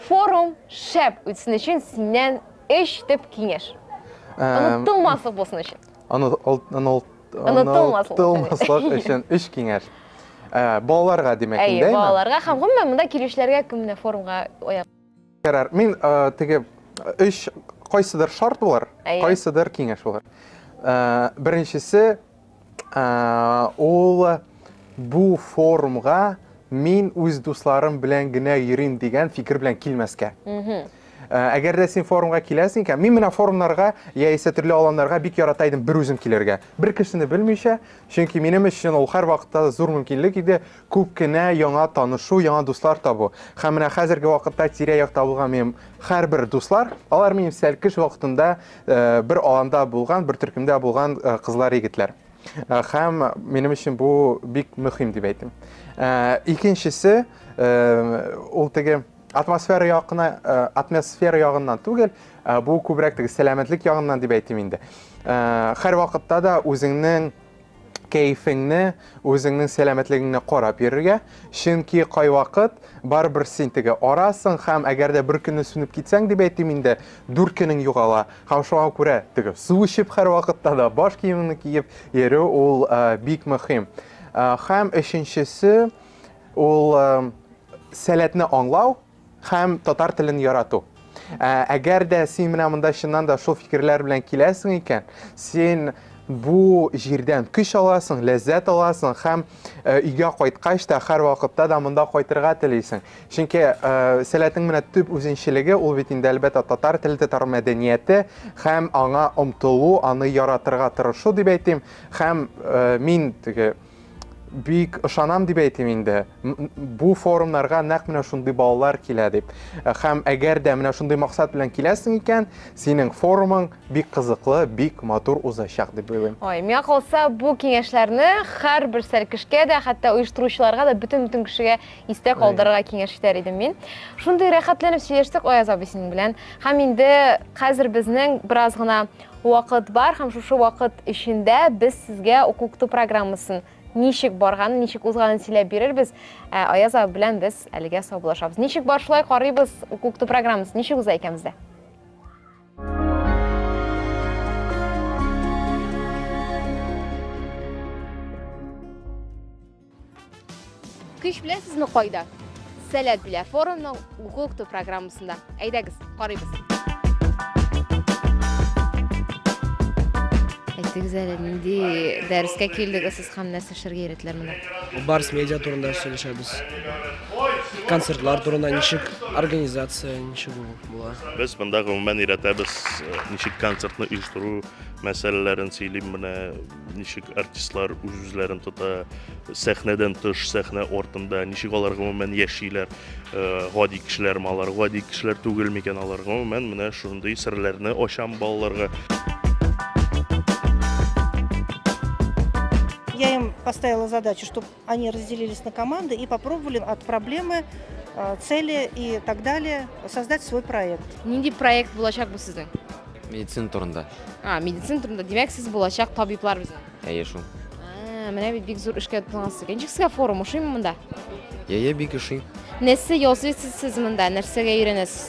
Форум шәп үтсен өчен синнән өч төп киңәш. Онытылмаслык булсын өчен. Онытылмаслык өчен өч киңәш. Балаларга, димәк инде, әйеме? Әйе, балаларга һәм гомумән монда килүчеләргә, кем менә форумга аяк Ярар, мин э, теге өч кайсыдыр шарт булыр, Әйе. кайсыдыр киңәш булыр. Э, Беренчесе э, ул бу форумга мин үз дусларым белән генә йөрим дигән фикер белән килмәскә. Мгм. Э, Әгәр дә син форумга киләсең икән, мин менә форумнарга яисә төрле аланнарга бик ярата идем бер үзем килергә. Бер кешене белмичә, чөнки минем өчен ул һәрвакытта зур мөмкинлек иде. Күп кенә яңа танышу, яңа дуслар табу. Һәм менә хәзерге вакытта тирә-якта булган минем һәрбер дуслар, алар минем сәлкеш вакытында бер аланда булган, бер төркемдә булган кызлар, егетләр. Һәм минем өчен бу бик мөһим дип әйтим. Икенчесе, ул теге атмосфера ягына, атмосфера ягыннан түгел, бу күбрәк теге сәламәтлек ягыннан дип әйтим инде. Һәр вакытта да үзеңнең кәефеңне, үзеңнең сәламәтлегеңне карап йөрергә, чөнки кайвакыт барыбер син теге арасың һәм әгәр дә бер көнне сүнеп китсәң, дип әйтим инде, дүрт көнең югала һәм шуңа күрә теге су эчеп һәрвакытта да баш киемеңне киеп йөрү ул бик мөһим. Һәм өченчесе ул сәләтне аңлау, Һәм татар телен ярату. Ә, әгәр дә син менә монда чыннан да шул фикерләр белән киләсең икән, син бу җирдән көч аласың, ләззәт аласың һәм ә, өйгә кайткач та һәр вакытта да монда кайтырга телисең. Чөнки ә, сәләтең менә төп үзенчелеге ул бит инде әлбәттә татар теле, татар мәдәнияте һәм аңа омтылу, аны яратырга тырышу дип әйтим. Һәм ә, мин теге бик ышанам дип әйтим инде бу форумнарга нәкъ менә шундый балалар килә дип э, һәм әгәр дә менә шундый максат белән киләсең икән синең форумың бик кызыклы бик матур узачак дип уйлыйм ой миңа калса бу киңәшләрне һәрбер сәлкешкә дә хәтта оештыручыларга да бөтен бөтен кешегә истә калдырырга киңәш итәр идем мин шундый рәхәтләнеп сөйләштек аяз абый синең белән һәм инде хәзер безнең бераз гына Вакыт бар һәм шушы вакыт эчендә без сезгә уку-укыту программасын ничек барганын, ничек узганын сөйләп бирербез. Ә Аяз абый белән без әлегә саубуллашабыз. Ничек бар шулай карыйбыз уку-укыту программасын, ничек уза икән бездә? Көч беләсезме кайда? Сәләт белә форумның Google Кто программасында. Әйдәгез, карыйбыз. Әйтегез әле, нинди дәрескә килдегез сез һәм нәрсә эшләргә өйрәтеләр монда? Барс медиа турында сөйләшәбез. Концертлар турында ничек организация, ничек ул була. Без монда гомумән өйрәтәбез, э, ничек концертны оештыру мәсьәләләрен сөйлим менә ничек артистлар үз-үзләрен тота, сәхнәдән тыш, сәхнә артында, ничек алар гомумән яшиләр, э, гади кешеләр ме алар, гади кешеләр түгел микән алар, гомумән менә шундый серләрне ачам балаларга. Я им поставила задачу, чтобы Они разделились на команды и попробовали от проблемы, э, цели и так далее создать свой проект. Нинди проект булачак бу сезнең? Медицина турында. А, медицина турында. Димәк, сез булачак табиблар безнең. Әйе шул. А, менә бит бик зур эшкә тотынгансыз икән. Ничек сезгә форум ошыймы монда? Әйе, бик ошый. Нәрсә ясыйсыз сез монда? Нәрсәгә өйрәнәсез?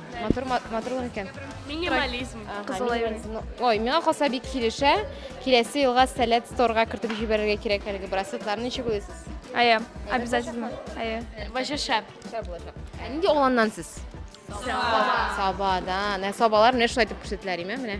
Матур, матурлык икән. Минимализм. Ой, миңа калса бик килешә. Киләсе елга сәләт сторга кертеп җибәрергә кирәк әлеге браслетларны ничек уйлыйсыз? Әйе, обязательно. Әйе. Ваҗа шәп. Шәп булачак. Ә нинди угланнан сез? Саба. Сабадан. Ә сабалар менә шулай итеп күрсәтелә, әйме? Менә.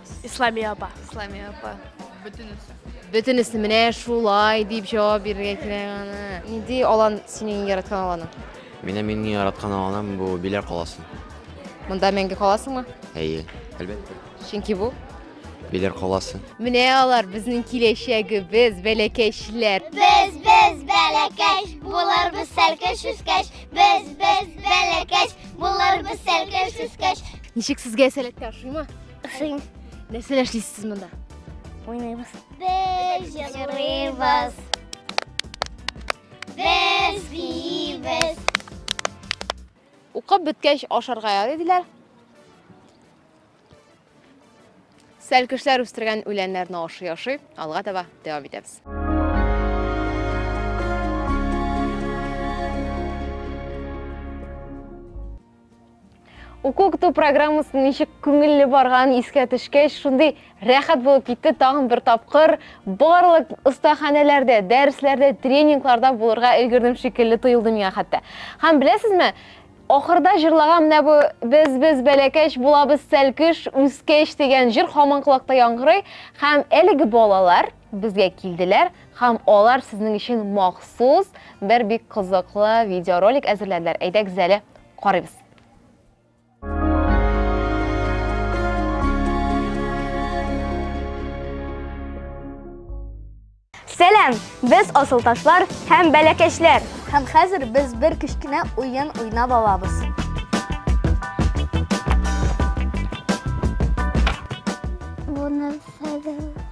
Исламия апа. Исламия апа. Бөтенесе. Бөтенесе менә шулай дип җавап бирергә кирәк аны. Нинди алан синең яраткан аланың? Менә мине яраткан аланым бу Биләр каласы. Монда мәңге каласыңмы? Әйе, әлбәттә. Чөнки бу Биләр каласы. Менә алар безнең киләчәгебез, бәләкәчләр. Без без бәләкәч, булар без сәлкәш үскәч. Без без бәләкәч, булар без сәлкәш үскәч. Ничек сезгә сәләткә ошыймы? Ошыйм. Нәрсәләр эшлисез сез монда? Уйныйбыз. Без җырлыйбыз. Без биибез. Укып беткәч ашарга ярый диләр. Сәлкешләр үстергән үләннәрне ашый ашый, алга таба дәвам итәбез. Уку көтү программасы ничек күңелле барган искә төшкәч, шундый рәхәт булып китте тагын бер тапкыр. Барлык остаханәләрдә, дәресләрдә, тренингларда булырга өлгердем шикелле тоелды миңа хәтта. Һәм беләсезме, ахырда җырлаган менә бу без без бәләкәч булабыз сәлкеш үскәч дигән җыр һаман колакта яңгырый һәм әлеге балалар Безгә килделәр һәм алар сезнең өчен махсус бер бик кызыклы видеоролик әзерләделәр. Әйдәгез әле карыйбыз. Сәлам! Без асылташлар һәм бәләкәчләр. Һәм хәзер без бер кечкенә уен уйнап алабыз. Буны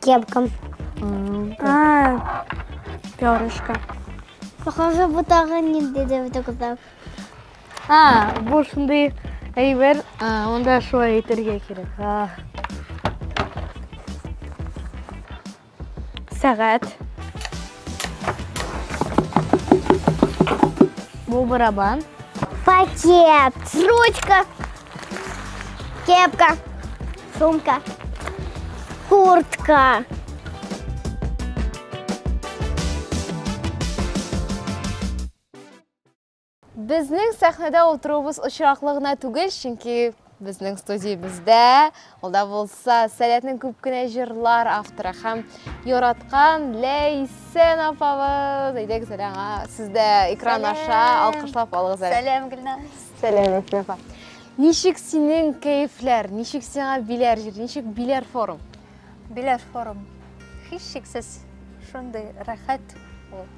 Кепкам. А, перышко. Похоже, бу тагы ниндидер бит кызлар. А, бу шундый әйбер, анда шулай әйтергә кирәк. Сәгать. Бу барабан. Пакет. Ручка. Кепка. Сумка. Куртка. Безнең сәхнәдә отыруыбыз очраклы гына түгел, чөнки безнең студиябездә ул да булса Сәләтнең күп кенә җырлар авторы һәм яраткан Ләйсән апабыз. Әйдәгез әле аңа. Сез дә экран аша алкышлап алыгыз әле. Сәлам, Гөлназ. Сәләмәт апа. Ничек синең кәефләр? Ничек сиңа Биләр җир? Ничек Биләр форум? Биләр форум. Һичшиксез шундый рәхәт ул.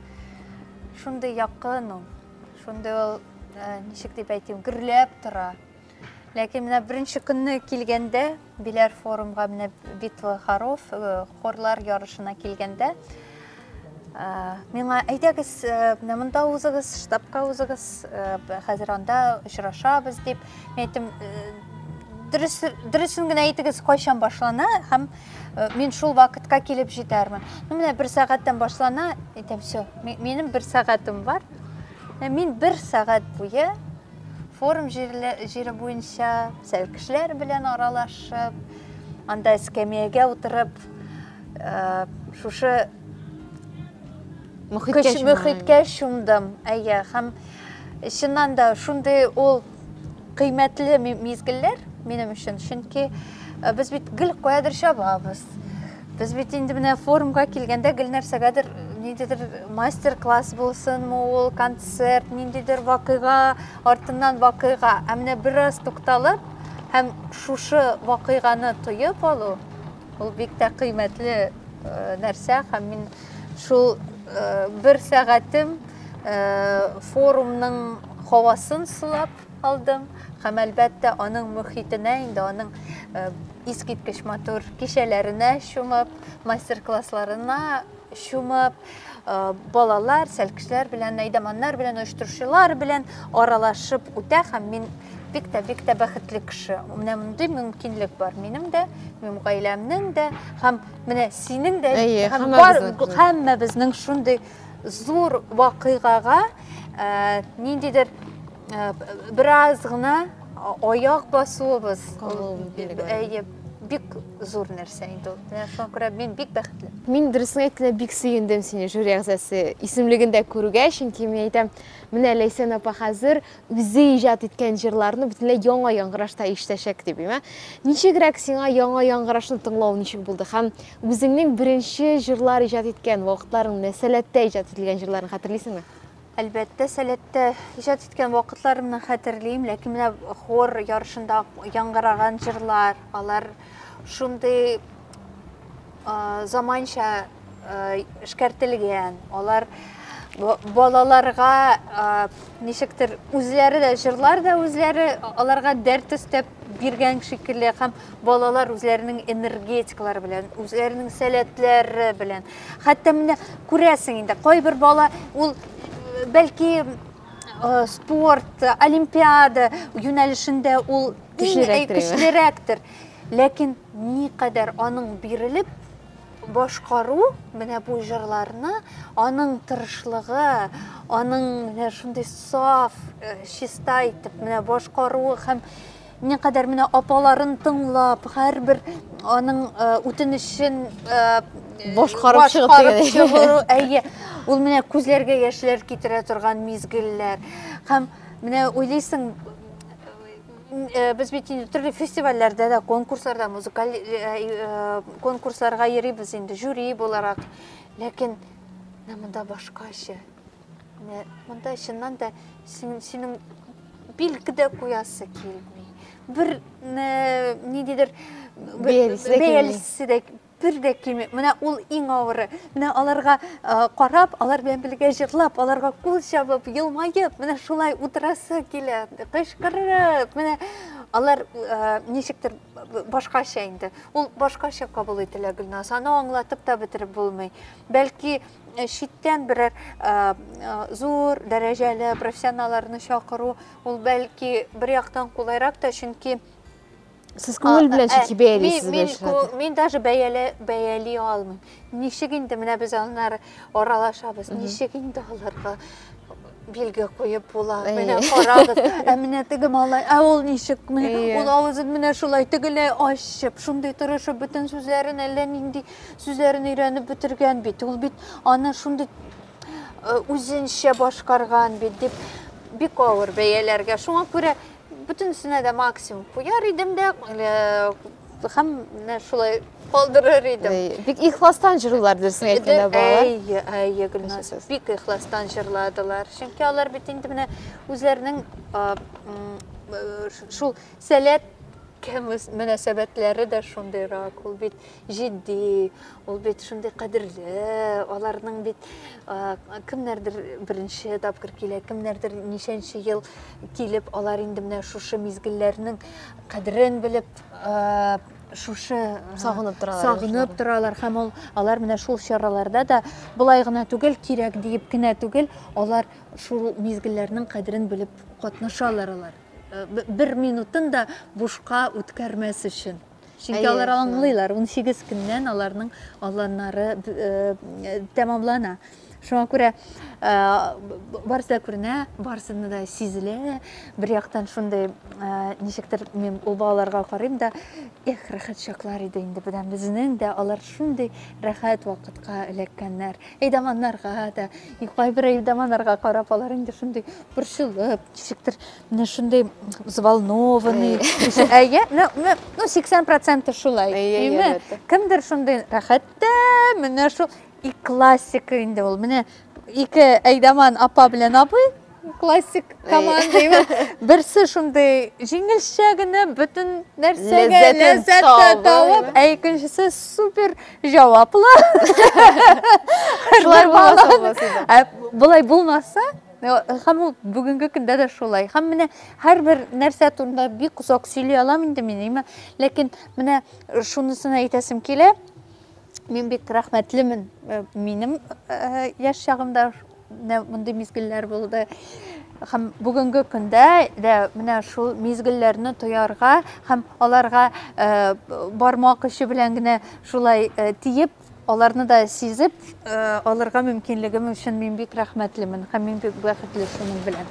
Шундый якын ул. Шундый ул, э, ничек дип әйтим, гөрләп тора. Ләкин менә беренче көнне килгәндә, Биләр форумга менә Битва Харов э, хорлар ярышына килгәндә э, миңа әйдәгез э, менә монда узыгыз, штабка узыгыз, хәзер анда очрашабыз дип. Мин әйттем, дөресен генә әйтегез, кайчан башлана һәм мин шул вакытка килеп җитәрмен. Ну менә бер сәгатьтән башлана, әйтәм, все, минем бер сәгатем бар. Мин бер сәгать буе Форум җирле, җире буенча сәл кешеләр белән аралашып, анда эскәмиягә утырып, э, шушы мөхиткә чумган. мөхиткә чумдым. Әйе, һәм чыннан да шундый ул кыйммәтле мизгелләр минем өчен, чөнки э, без бит гел каядыр чабабыз. Без бит инде менә форумга килгәндә гел нәрсәгәдер ниндидер мастер-класс булсынмы ул, концерт, ниндидер вакыйга, артыннан вакыйга. Ә менә бераз тукталып һәм шушы вакыйганы тоеп алу, ул бик тә кыйммәтле э, нәрсә һәм мин шул э, бер сәгатем э, форумның һавасын сулап, алдым һәм әлбәттә аның мөхитенә инде аның э, искиткеч матур кичәләренә чумып мастер-классларына чумып э, балалар сәлкешләр белән әйдәманнар белән оештыручылар белән аралашып үтә һәм мин бик тә бик тә бәхетле кеше менә мондый мөмкинлек бар минем дә минем гаиләмнең дә һәм менә синең дә һәм бар һәммәбезнең шундый Зур вакыйгага ниндидер бераз гына аяк басуыбыз әйе бик зур нәрсә инде ул менә шуңа күрә мин бик бәхетле мин дөресен әйткәндә бик сөендем сине жюри әгъзасы исемлегендә күрүгә чөнки мин әйтәм менә ләйсән апа хәзер үзе иҗат иткән җырларны бөтенләй яңа яңгырашта ишетәчәк дип уйлыйм. Ничегрәк сиңа яңа яңгырашны тыңлау ничек булды? Һәм үзеңнең беренче җырлар иҗат иткән вакытларың, менә Сәләттә иҗат ителгән җырларны хәтерлисеңме? Әлбәттә, Сәләттә иҗат иткән вакытларымны хәтерлим, ләкин менә хор ярышында яңгыраган җырлар, алар шундый заманча эшкәртелгән алар балаларга ничектер үзләре дә җырлар да үзләре аларга дәрт өстәп биргән шикелле һәм балалар үзләренең энергетикалары белән үзләренең сәләтләре белән хәтта менә күрәсең инде кайбер бала ул бәлки спорт олимпиада юнәлешендә ул көчлерәктер Ләкин никадәр аның бирелеп башкару менә бу җырларны, аның тырышлыгы, аның менә шундый саф, э, чиста итеп менә башкаруы һәм никадәр менә апаларын тыңлап, һәрбер аның э, үтенечен э, Башкарып чыгып башкарып дигән. чыгу, әйе. Ул менә күзләргә яшьләр китерә торган мизгелләр. Һәм менә уйлыйсың, Э, без бит инде төрле фестивальләрдә дә конкурсларда музыкаль э, э, конкурсларга йөрибез инде жюри буларак ләкин менә монда башкача менә монда чыннан да синең билге дә куясы килми бер ниндидер бәялисе дә Бер дә кими. Менә ул иң авыры. Менә аларга карап, алар белән бергә җырлап, аларга кул чабып, елмаеп, менә шулай утырасы килә. Кычкырып, менә алар ничектер башкача инде. Ул башкача кабул ителә Гөлназ. Аны аңлатып та бетереп булмый. Бәлки читтән берәр зур дәрәҗәле профессионалларны чакыру, ул бәлки бер яктан кулайрак та, чөнки Сез күңел белән чәчи бәялисез бу эшләрне? Мин даже бәяли, бәяли алмыйм. Ничек инде менә без аннары аралашабыз. Ничек инде аларга билге куеп була. Менә карагыз. Ә менә теге малай, ә ул ничек? Ул авызын менә шулай тегеләй ачып, шундый тырышып бөтен сүзләрен әллә нинди сүзләрен өйрәнеп бетергән бит. Ул бит аны шундый үзенчә башкарган бит дип бик авыр бәяләргә. Шуңа күрә Бөтенесенә дә максимум куяр идем дә, һәм менә шулай калдырыр идем. Бик ихластан җырлыйлар дөресен әйткәндә балалар. Әйе, әйе, Гөлназ. Бик ихластан җырладылар. Чөнки алар бит инде менә үзләренең шул сәләт мөнәсәбәтләре дә шундыйрак. Ул бит җитди, Ул бит шундый кадерле, аларның бит кемнәрдер беренче тапкыр килә, кемнәрдер ничәнче ел килеп, алар инде менә шушы мизгелләрнең кадерен белеп, шушы сагынып торалар. Сагынып торалар һәм ул алар менә шул чараларда да былай гына түгел, кирәк диеп кенә түгел, алар шул мизгелләрнең кадерен белеп катнашалар алар. Бер минутын да бушка үткәрмәс өчен. Чөнки Әйе, алар аңлыйлар, 18 көннән аларның аланнары э, тәмамлана. Шуңа күрә э, барысы да күренә, барысы да сизелә. Бер яктан шундый э, ничектер мин ул балаларга карыйм да, эх, рәхәт чаклар иде инде буда безнең дә алар шундый рәхәт вакытка эләккәннәр. Әйдаманнарга да, кайбер әйдаманнарга карап алар инде шундый борчылып, ничектер Менә шундый взволнованный. Әйе, ну, ну, ну 80% шулай. Әйе, Кемдер шундый рәхәттә, менә шул и классика инде ул. Менә ике әйдаман апа белән абый классик команда. Берсе шундый җиңелчә генә бөтен нәрсәгә ләззәт табып, ә икенчесе супер җаваплы. Шулай булмаса, ә булай булмаса, Хәм ул бүгенге көндә дә шулай. Хәм менә һәрбер нәрсә турында бик озак сөйли алам инде мин, әйме? Ләкин менә шунысын әйтәсем килә. Мин бик рәхмәтлемен. Э, минем э, яшь чагымда мондый мизгелләр булды. Хәм бүгенге көндә дә менә шул мизгелләрне тоярга һәм аларга э, бармак очы белән генә шулай тиеп Аларны да сизеп алырга мөмкинлегем өчен мин бик рәхмәтлемен һәм мин бик бәхетле шуның белән.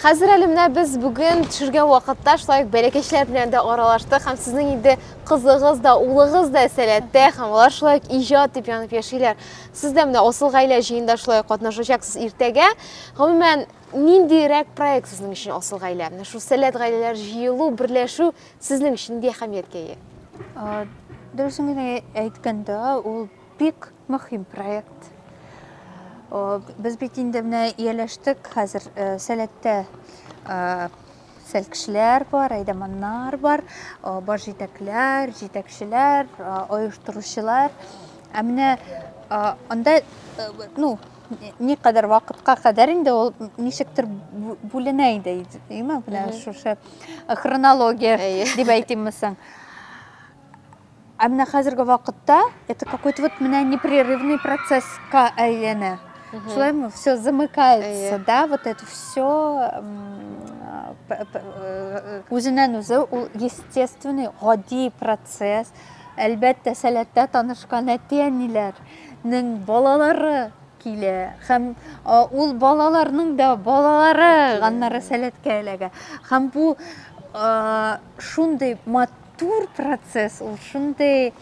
Хәзер әле менә без бүген төшергән вакытта шулай ук бәләкәчләр белән дә аралаштык һәм сезнең инде кызыгыз да, улыгыз да сәләттә һәм алар шулай ук иҗат дип янып яшиләр. Сез дә менә асыл гаилә җыенда шулай ук катнашачаксыз иртәгә. Гомумән, ниндирәк проект сезнең өчен асыл гаилә? Менә шул сәләт гаиләләр җыелу, берләшү Сезнең өчен нинди әһәмияткә ия? Дөресен генә әйткәндә, ул бик мөһим проект. Без бит инде менә ияләштек, хәзер э, сәләттә э, сәл кешеләр бар, әйдәманнар бар, бар җитәкләр, җитәкчеләр, оештыручылар. Ә менә анда, э, ну, Ни кадәр вакытка кадәр инде ул ничектер бүленә иде, әйме? Менә шушы э, хронология дип әйтимме соң. Ә менә хәзерге вакытта это какой-то вот менә непрерывный процесска әйләнә. Шулай мы все замыкается, да, вот это все э, э, үзеннән үзе ул естественный, гади процесс. Әлбәттә, сәләттә танышкан әти-әниләр нең балалары килә һәм ул балаларның да балалары ганнары сәләткә эләгә һәм бу шундый матур процесс ул шундый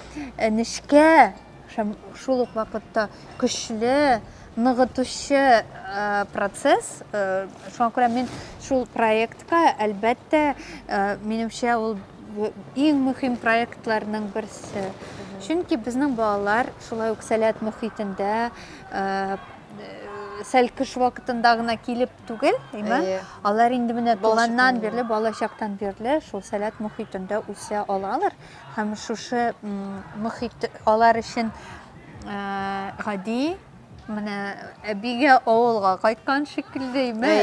нечкә Һәм шул ук вакытта көчле ныгытучы процесс. Шуңа күрә мин шул проектка, әлбәттә, минемчә ул иң мөһим проектларның берсе. Чөнки безнең балалар шулай ук сәләт мөхитендә сәл кыш вакытында гына килеп түгел, әйме? Алар инде менә туганнан бирле, балачактан бирле шул сәләт мөхитендә үсә алалар. Һәм шушы мөхит алар өчен гади менә әбигә авылга кайткан шикеллеме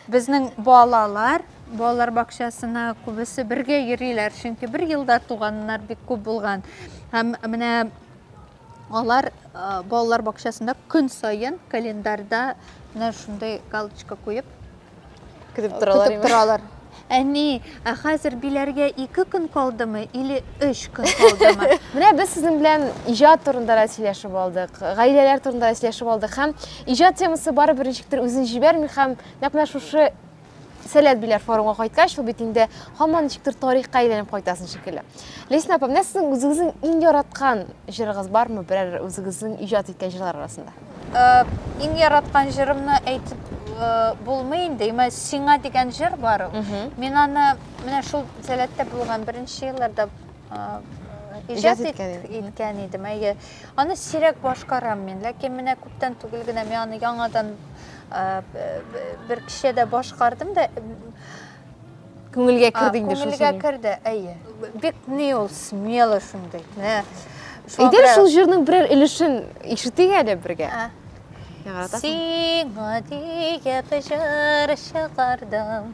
безнең балалар балалар бакчасына күбесе бергә йөриләр чөнки бер елда туганнар бик күп булган һәм менә Алар балалар бакчасында көн саен календарьда менә шундый галочка куеп көтеп торалар. Көтеп торалар. Әни, ә хәзер биләргә 2 көн калдымы или 3 көн калдымы? Менә без сезнең белән иҗат турында да сөйләшеп алдык, гаиләләр турында да сөйләшеп алдык һәм иҗат темасы барыбер ничектер үзен җибәрми һәм нәкъ менә шушы Сәләт биләр форумга кайткач, ул бит инде һаман ничектер тарихка әйләнеп кайтасың шикелле. Лесна апа, менә сезнең үзегезнең иң яраткан җырыгыз бармы? Берәр үзегезнең иҗат иткән җырлар арасында? Э, иң яраткан җырымны әйтеп э, булмый инде. Имә сиңа дигән җыр бар. Мин аны менә шул сәләттә булган беренче елларда э, иҗат иткән идем. Әйе. Аны сирәк башкарам мин, ләкин менә күптән түгел генә мин аны яңадан бер кичә дә башкардым да күңелгә керде инде шул күңелгә керде әйе бик ни ул смело шундый менә әйдәр шул җырның берәр өлешен ишетик әле бергә сиңа диеп җыр чыгардым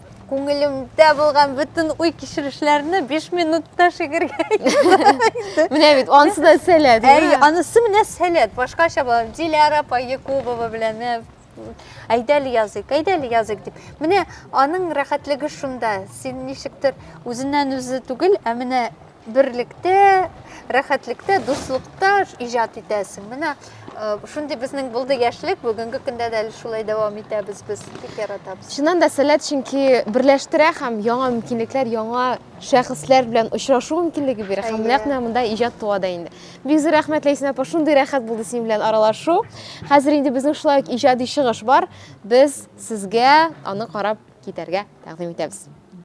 Күңелемдә булган бөтен уй кичерешләрне 5 минутта шигергә Менә бит, анысы да сәләт. Әй, анысы менә сәләт, башкача була. Диляра апа Якубова белән э, әйдәле языйк, әйдәле языйк дип. Менә аның рәхәтлеге шунда. Син ничектер үзеннән үзе түгел, ә менә берлектә рәхәтлектә дуслыкта иҗат итәсең менә э, шундый безнең булды яшьлек бүгенге көндә дә әле шулай дәвам итәбез без бик яратабыз чыннан да сәләт чөнки берләштерә һәм яңа мөмкинлекләр яңа шәхесләр белән очрашу мөмкинлеге бирә һәм нәкъ менә монда иҗат туа да инде бик зур рәхмәт ләйсән апа шундый рәхәт булды синең белән аралашу хәзер инде безнең шулай ук иҗади чыгыш бар без сезгә аны карап китәргә тәкъдим итәбез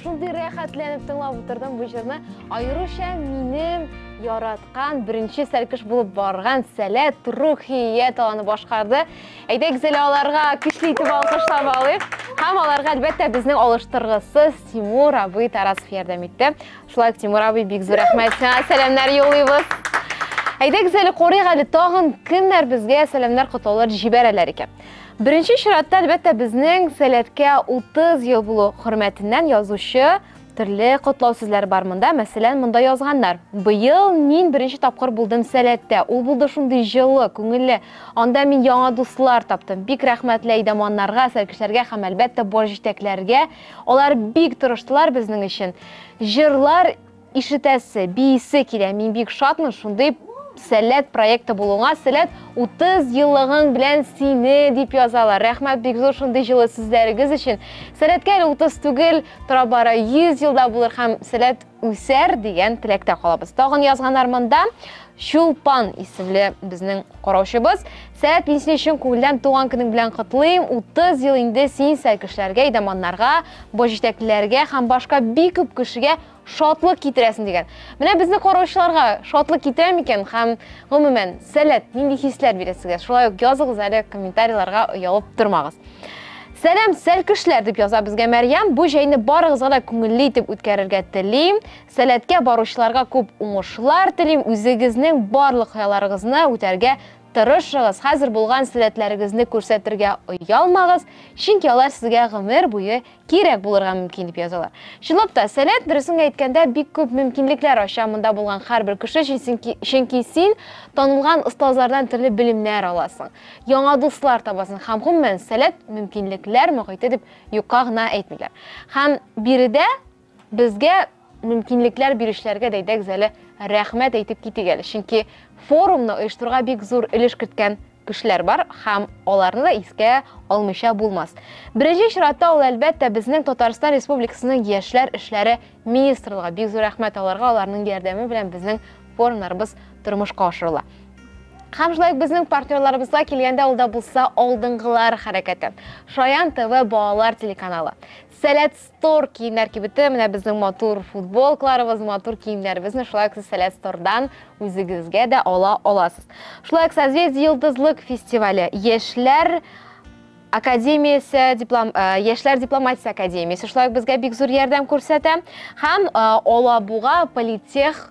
шундый рәхәтләнеп тыңлап утырдым бу җырны аеруча минем яраткан беренче сәлкеш булып барган сәләт рухия таланы башкарды әйдәк зәлә аларга көчле итеп алкышлап алыйк һәм аларга әлбәттә безнең алыштыргысыз тимур абый тарасов ярдәм итте Шулай ук Тимур абый бик зур рәхмәт сиңа сәламнәр юллыйбыз. Әйдәгез әле карыйк әле тагын кемнәр безгә сәламнәр котлаулар җибәрәләр икән. Беренче чиратта әлбәттә безнең сәләткә 30 ел булу хөрмәтеннән язучы төрле котлау сүзләре бар монда. Мәсәлән, монда язганнар. Быел мин беренче тапкыр булдым сәләттә. Ул булды шундый җылы, күңелле. Анда мин яңа дуслар таптым. Бик рәхмәтле әйдәманнарга, сәркешләргә һәм әлбәттә баш җитәкләргә. Алар бик тырыштылар безнең өчен. Җырлар ишетәсе, биисе килә. Мин бик шатмын шундый Сәләт проекты булуңа, Сәләт 30 еллыгың белән сине дип язалар. Рәхмәт бик зур шундый җылы сүзләрегез өчен. Сәләткә әле 30 түгел, тора бара 100 елда булыр һәм Сәләт үсәр дигән теләктә калабыз. Тагын язганнар монда. Чулпан исемле безнең караучыбыз. Сәет, мин сине чын күңелдән туган көнең белән котлыйм. 30 ел инде син сәйкешләргә, идаманнарга, баш җитәклеләргә һәм башка бик күп кешегә шатлык китерәсең дигән. Менә безне караучыларга шатлык китерә микән һәм гомумән сәләт нинди хисләр бирә сезгә? Шулай ук языгыз әле комментарийларга оялып тормагыз. Сәлам, сәлкешләр дип яза безгә Мәрьям. Бу җәйне барыгызга да күңелле итеп үткәрергә телим. Сәләткә баручыларга күп уңышлар телим, үзегезнең барлык хыялларыгызны үтәргә тырышыгыз, хәзер булган сәләтләрегезне күрсәтергә оялмагыз, чөнки алар сезгә гомер буе кирәк булырга мөмкин, дип язалар. Чынлап та, сәләт, дөресен әйткәндә, бик күп мөмкинлекләр ача монда булган һәрбер кеше өчен, чөнки син танылган остазлардан төрле белемнәр аласың, яңа дуслар табасың һәм, гомумән, сәләт мөмкинлекләр мохите дип юкка гына әйтмиләр. Һәм биредә Безгә мөмкинлекләр бирүчеләргә дәйдәгез әле рәхмәт әйтеп китик әле, чөнки форумны оештыруга бик зур өлеш керткән кешеләр бар һәм аларны да искә алмыйча булмас. Беренче чиратта ул әлбәттә безнең Татарстан Республикасының яшьләр эшләре министрлыгы. Бик зур рәхмәт аларга, аларның ярдәме белән безнең форумнарыбыз тормышка ашырыла. Һәм шулай ук безнең партнерларыбызга килгәндә ул да булса алдынгылар хәрәкәте. Шаян ТВ балалар телеканалы. Сәләт Тор киемнәр кибете менә безнең матур футболкаларыбыз, матур киемнәребезне шулай ук сез Сәләт Стордан үзегезгә дә ала аласыз. Шулай ук Созвездие Йолдызлык фестивале, Яшьләр академиясе диплом э, яшьләр дипломатиясе академиясе шулай ук безгә бик зур ярдәм күрсәтә һәм э, алабуга политех